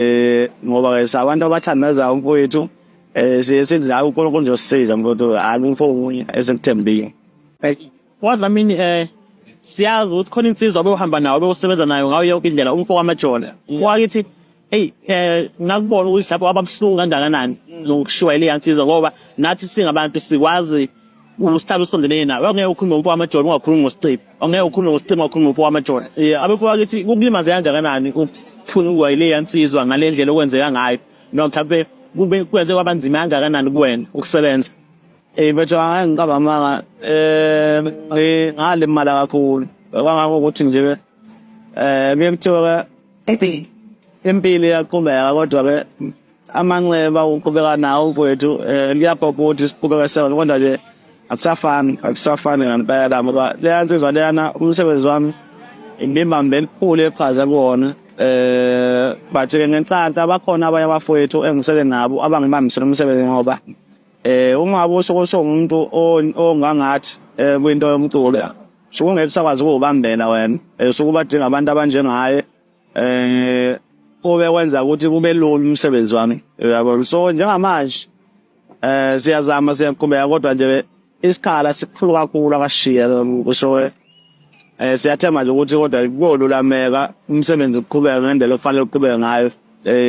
eh ngoba ke sabantu abathandaza umfowethu eh siye sithi hayi uNkulunkulu uzosisiza mfowethu akukho okunye esikuthembile wadlamini eh siyazi ukuthi khona insizwa obewuhamba nawo obewusebenza nayo ngayo yonke indlela umfo wamajona wakithi eyi um ngakubona ukuthi lapho ababuhlungu kangakanani nokushiwa ile yansizwa ngoba nathi singabantu sikwazi usihlalo usondelene nawe angeke ukhulume ngomfo wamajoni ungakhulumi ngosiqibi angeke ukhulume ngosiqibi ungakhulumi ngomfo wamajoni um abekho bakithi kukulimaze kangakanani ukuthunukwa yileya nsizwa ngale ndlela okwenzeka ngayo noma mhlawumpe kube kwenze kwaba nzima kangakanani kuwena ukusebenza um betho angeke ngiqaba amanga um ngalimala kakhulu kwangako ukuthi nje um eh, kuye kuthiwa-ke impilo iyaqhubeka kodwa-ke amanxeba uqhubeka nawo mfowethu um liyabhobha ukuthi siqhubeka seven kodwa nje akusafani akusafani ngempela ngoba leya nsizwa leyana umsebenzi wami ngibambe elikhulu eqhaza kuwona eh but-ke ngenhlanhla bakhona abanye abafowethu engisele nabo abangibambisela umsebenzi ngoba eh uma usuke usungumuntu ongangathi eh, kwinto yomculo suke ungeke usakwazi ukuwubambela wena eh, suke ubadinga abantu abanjengaye eh kube kwenza ukuthi kube lula umsebenzi wami uyabo so njengamanje eh siyazama siyaqhubeka kodwa nje isikhala sikhulu kakhulu akashiya kusho eh siyathemba nje ukuthi kodwa kuyolulameka umsebenzi uqhubeka ngendlela ofanele uqhubeke ngayo eh